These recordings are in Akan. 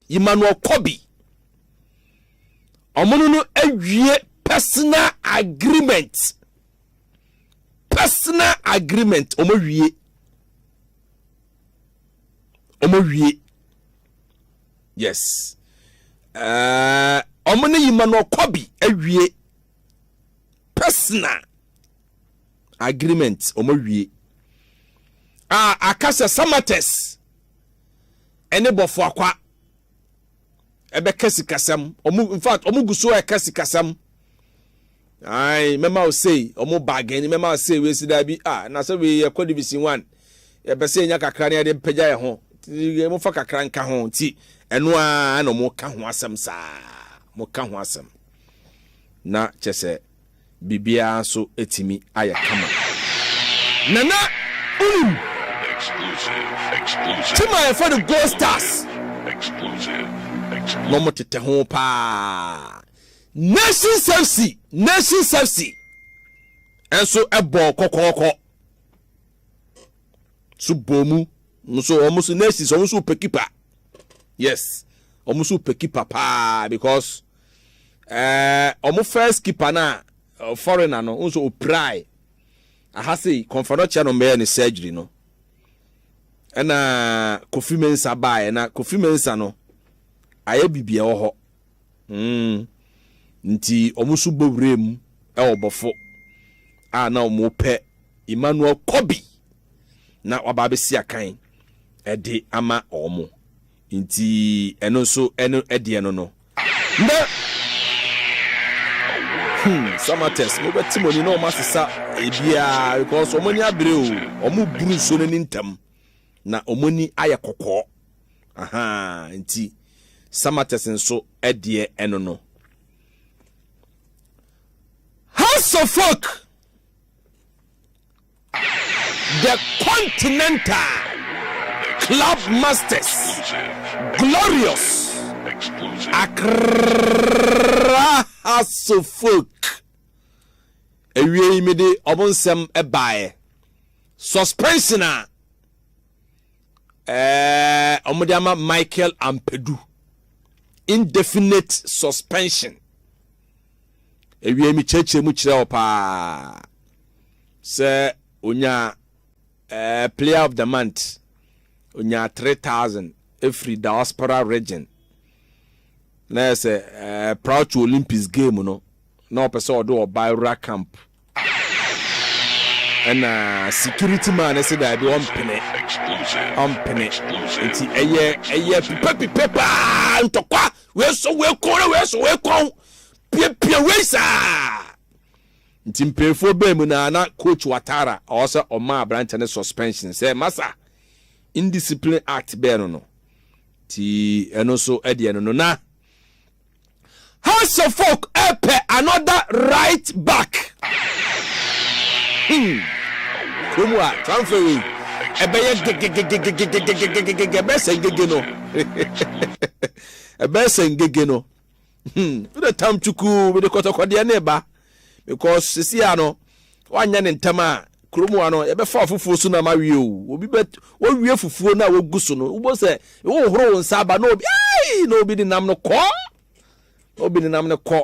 Yima no ɔkɔ bi. Ɔmo no no awie personal agreement. Personal agreement ɔmo awie. Ɔmo awie. Yes. Uh, ɔmo ne Yima no ɔkɔ bi awie personal agreement ɔmo awie. A aka sɛ Samatex ɛne bɔfoakwa ɛbɛka sikasɛm ɔmo in fact ɔmo gu so ɛka sikasɛm ayi mɛma osei ɔmo baagɛni mɛma osei wei si daabi a ah, na sɛ wei yɛ kɔ division one yɛpɛ sɛ yɛnya kakra ne yɛde mpagya yɛ ho mo fa kakra nka ho nti ɛno ara na ɔmo ka ho asɛm saa mo ka ho asɛm na kyɛ sɛ biribiara nso tumi ayɛ kama. Nana wonim team a yɛfrɛ no Gold Stars na wɔn tetɛ ho paa. Nations FC Nations FC nso bɔɔ kɔkɔɔkɔ so bɔɔ mu nso wɔn nso Nations wɔn nso pɛ kipa yes wɔn nso pɛ kipa paa because ɛɛ wɔn first keeper no a foreigner no nso opirae aha sei kɔnfa no kyɛ no mbɛyɛ ne surgery no ɛna kofi mensa baeɛ na kofi mensa no ayɛ biribi ɛwɔ hɔ mm. nti wɔn nso bɔ wura mu ɛwɔ bɔfo a na wɔn pɛ emmanuel kobi na waba abɛsi akan ɛde ama wɔn Nti ɛno nso ɛno ɛdeɛ no no. Ndɛ hmm Samatex mo bɛte mo ani na ɔmo asesa ebiaa because ɔmo ani abere oo ɔmo buru nsuo no ani ntɛm na ɔmo ani ayɛ kɔkɔɔ ahaa nti Samatex nso ɛdeɛ ɛno no. House of Folk. The Continental Club Masters, Glorious Accra Hasselfolk. Awiei mede ɔmo nsɛm baeɛ. Suspension a ɛɛ ɔmo de ama Michael Ampedu. Indefinite suspension. Ewiei mekyerɛkyerɛ mu kyerɛ wo paa sɛ onya eh, player of the month onya 3000 ɛfiri diaspora region na yɛ sɛ eh, Proud to Olympics game no na ɔpɛ sɛ ɔde ɔba awura camp ɛna security man no sɛ daabi ɔmpene ɔmpene nti ɛyɛ ɛyɛ pipapipa paa ntɔkwa wei so wei kɔn na wei so wei kɔn piapia wei saa nti mpanyinfoɔ bɛn mu na na coach watara ɔsɛ ɔma aberante no suspension sɛ masa indiscipline act bɛn no no ti ɛno so ɛdeɛ no no na. Hansefok ɛpɛ another right back. Hmm. Kurom a transfer wei ɛbɛyɛ gegegegegegegegegege ɛbɛyɛ sɛ ngege no ɛbɛyɛ sɛ ngege no hmm wode tam twukuu mede kɔtɔkɔdeɛ ne ba because sisi a no Woanyɛ no ntɛm a, kurom hɔ no, yɛbɛfa ɔfoforɔ so na ama awie o. Obi bɛ, wowie fufuo no a wogu so no, wobɛhu sɛ wohohoro wo nsa aba na obi, ai, na obi de nam no kɔ. Na obi de nam no kɔ.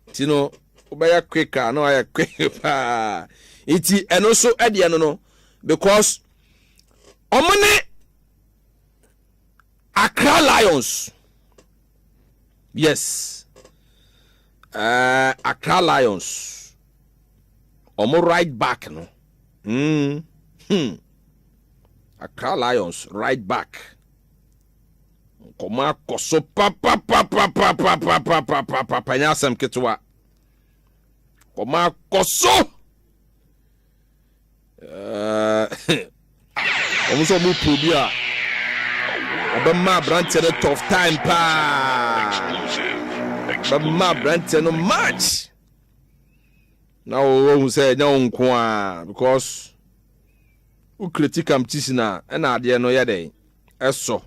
Nti no, wobɛyɛ quick a na wayɛ quick paa. Nti ɛno nso ɛdeɛ no no, because wɔn ne Accra Lions. yes uh, accra lions ɔmo right back no mm, hmm. accra lions right back nkɔmɔ akɔ so papapapapapapapapapa nyɛ asɛm ketewa nkɔmɔ akɔ so wɔn nso wɔn repro bi a ɔbɛma aberanteɛ no tough time paa bɛma aberanteɛ no match na wɔhu sɛ ɛnyɛ wo nko a because wo kreti competition a ɛna adeɛ no yɛ dɛn ɛsɔ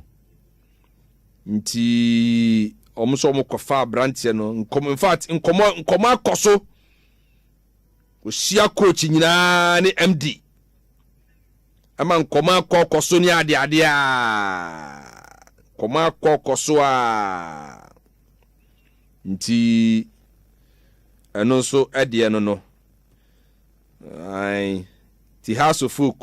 nti wɔn nso wɔn kɔfa aberanteɛ no nkɔmɔ in fact nkɔmɔ nkɔmɔ akɔ so. Ɔhyia coach nyinaa ne MD. Ɛma nkɔmɔ akɔ kɔ so ne ade ade a. Nkɔmɔ akɔ kɔ so a. Nti ɛno nso ɛdeɛ no no. Ae. Ti ha so folk.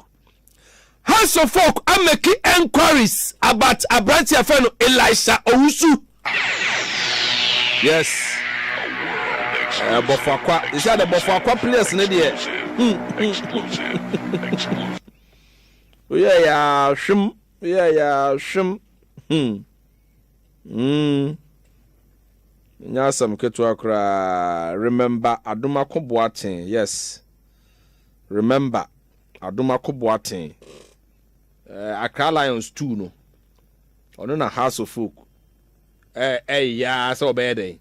House of Folk are making enquiries about aberante a fɛ no Elisha Owusu. Yes. Uh, Bofakwa. They say the Bofakwa players ne deɛ. Oyɛ ya hwem, oyɛ ya hwem. Hmm. Hmm. Nya asɛm ketewa koraa. Remember Adoma Koboaten. Yes. Remember. Adomako Boateng, eh, Accra Lions tuu no, ɔno na Hearts of Oak ɛyɛ ara sɛ ɔbɛyɛ dɛn?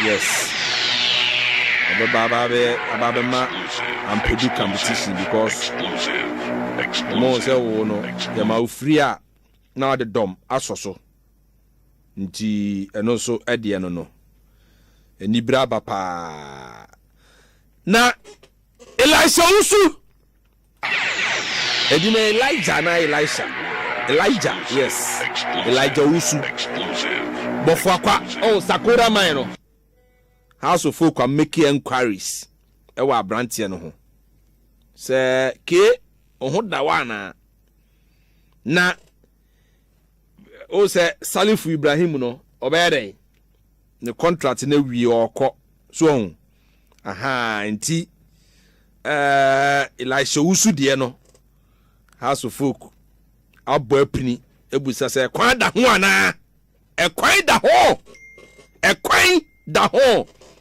Yes. Ɔbɛba aba bɛma ampedi competition because ɔmo sɛ wo no yɛma ofiri a na ɔde dɔm asɔ so nti ɛno nso ɛdeɛ no no anibere aba paa na Elisha wusu. Ɛdi na Elijah na Elisha. Elijah yes. Elijah wusu. Bɔfo akwa oh Sakora man no. House of Folk are making enquiries ɛwɔ abranteɛ no ho. Sɛ ke ɔho da wa anaa. Na o sɛ salifu ibrahim no ɔbɛyɛ dɛn ne contract na wie ɔkɔ so ɔho aha nti ɛɛ elisha wusu deɛ no house of folk abɔ apini ebusa sɛ ɛkwan da ho anaa ɛkwan da ho ɛkwan da ho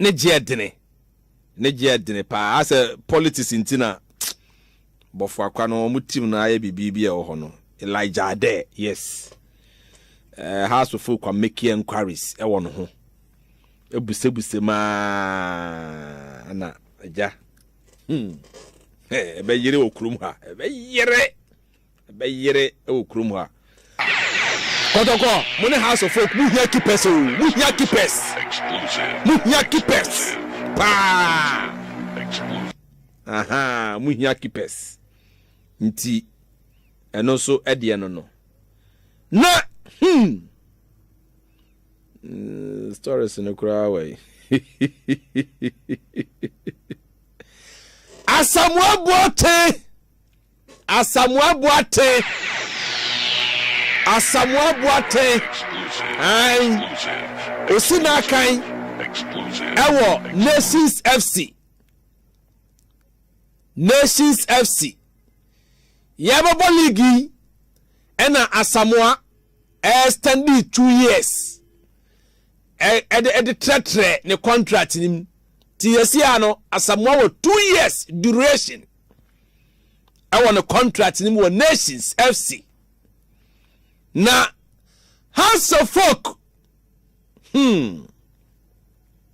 ne gyeɛ dene ne gyeɛ dene paa asɛ politics nti na bɔfo akwa no wɔn team no ayɛ biribi bi a ɛwɔ hɔ no Elijah Adɛ yes uh, house of folk make inquiries ɛwɔ no ho ebusebuse maa na agya hmm ɛbɛyere wɔ kurom ha ɛbɛyere. Ɛbɛyere wɔ kurom hɔ a. Kɔtɔkɔ mo ne house of folk mo hia keepers o mo hia keepers mo hia keepers paa aha mo hia keepers nti ɛno nso ɛdeɛ no no na hmm mm, stories no koraa wɔ yi asamoaboɔ tee. Asamoah Boateng Asamoah Boateng an ɔsi n'akan ɛwɔ Nations FC Nations FC yɛbɛbɔ league yi ɛna Asamoah ɛyɛ standi two years ɛde ɛde trɛtrɛ ne contract nim ti yɛsi ano Asamoah wɔ two years duration. ɛwɔ ne contract no mu wɔ Nations FC na House of Folk hmm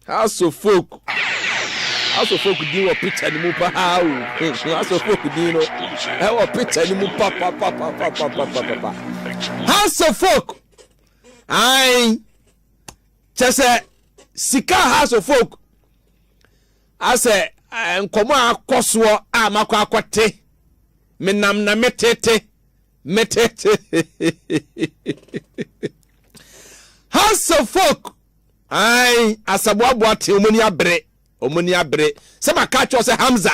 House of Folk House of Folk din wɔ picture no mu paa o hmm, House of Folk din no ɛwɔ picture no mu papapapapapapapa House of Folk ayi kyɛ sɛ sika House of Folk. Asɛ nkɔmmɔ a akɔ soɔ a makɔ akɔte, me nam na me tete, me tete. Hausa folk, ae, asaboaboa te, wɔn ani abere, wɔn ani abere. Sɛ maka akyerɛ sɛ Hamza,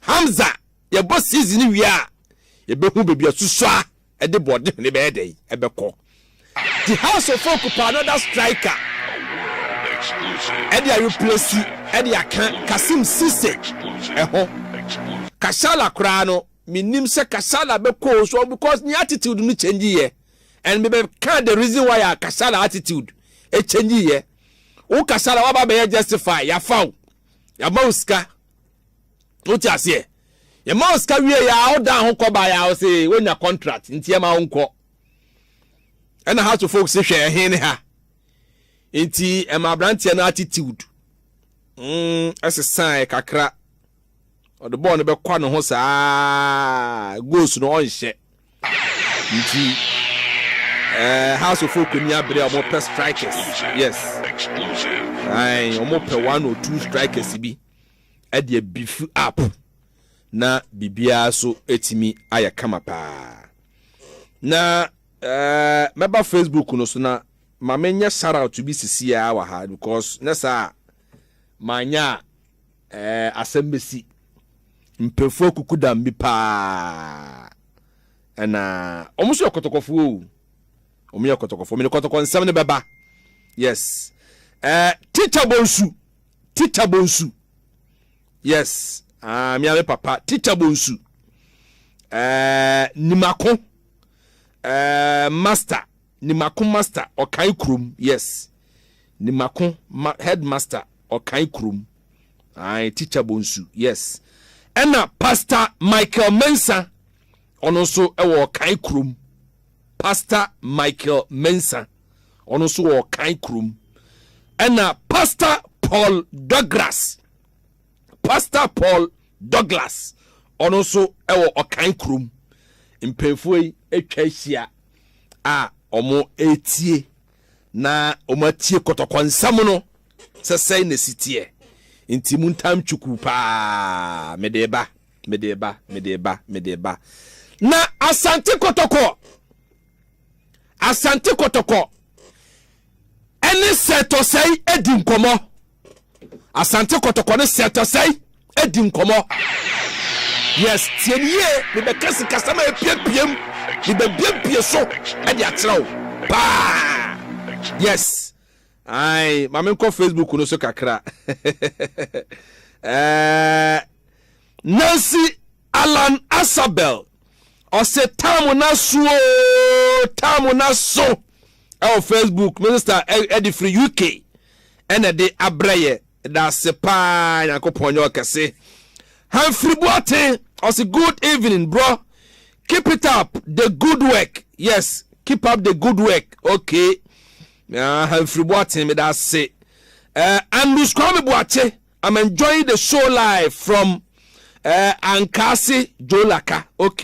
Hamza, yɛbɔ season no wie a, yɛbɛhu baabi asusua. de Bɔɔdehene bɛyɛ dɛn bɛkɔ? The House of Folk pɛ another striker de areplesi de aka Kassim Cisse ho. Kashala koraa no, mennim sɛ Kashala bɛkɔ o so because ne attitude no change yɛ and mebɛka the reason why a Kashala attitude change yɛ. Wo Kashala waba bɛyɛ justify, yɛafa wo, yɛama wo sika. Wote aseɛ? Yɛma wo sika wie yɛ a wodan ho kɔ baeɛ a wo se wonya contract nti yɛma wo nkɔ. Ɛna house of folks hwɛ ɛhe ne ha. Nti ɛma aberanteɛ no attitude mm, ɛsesaeɛ kakra. Ɔde bɔɔl no bɛkwa ne ho saa goals no ɔnhyɛ. Nti eh, house of folk ni abere a wɔpɛ strikers. Yes. Ae, wɔpɛ one or two strikers bi. ɛde abifu app na biribiara so ɛtumi ayɛ kama paa na eh, mɛba facebook no so na ma menyɛ shout bi sisiaa wɔ ha because ne saa manya a eh, asɛm bɛsi mpɛfoɔ kukudam bi paa ɛna wɔn nso yɛ kɔtɔkɔfoɔ o wɔn yɛ kɔtɔkɔfoɔ mene kɔtɔkɔ nsɛm no bɛba yes eh, teacher bonsu Teacher Bonsu. Yes. Ah, me ame papa. Teacher Bonsu. Eh, Nimako. Eh, master. Nimako master. Okai krom. Yes. Nimako ma headmaster. Okai krom. Ah, teacher Bonsu. Yes. Ena Pastor Michael Mensa. Ono so ewo Okai krom. Pastor Michael Mensah, ɔno nso wɔ Ɔkan kurom. Ɛna Pastor Paul Douglas, Pastor Paul Douglas, ɔno nso wɔ Ɔkan kurom. Mpanyinfoɔ yi atwa ahyia a wɔretie na wɔatie kɔtɔkɔ nsɛm no sɛ sɛn na ɛsi teɛ. Nti mu ntam twuku paa mede ba. Mede reba, mede reba, mede reba. Na Asante Kɔtɔkɔ, Asante Kɔtɔkɔ ɛne Sɛtɔsɛe adi nkɔmɔ. Asante Kɔtɔkɔ ne Sɛtɔsɛe adi nkɔmɔ. Yes, tie ne yie, mebɛka sikasɛm a epiapiam, mebɛbuebue so de akyerɛ wo paa. Yes. Ae, ma menkɔ Facebook no so kakra. eh, Nancy Alan Asabel, ɔse tam na so o, tam na so. Ɛwɔ Facebook, me sister ɛde firi UK, ɛna ɛde abrɛ yɛ. Daase paa, Nyankopɔn nyɛ ɔkɛse. Humphrey Boateng, ɔse good evening bro, keep it up the good work. Yes, keep up the good work. Okay. Aha mfiri boaten meda ase eh, Andrews Kwame Boakye I'm enjoying the show live from eh, Ankaase Jolaka ok.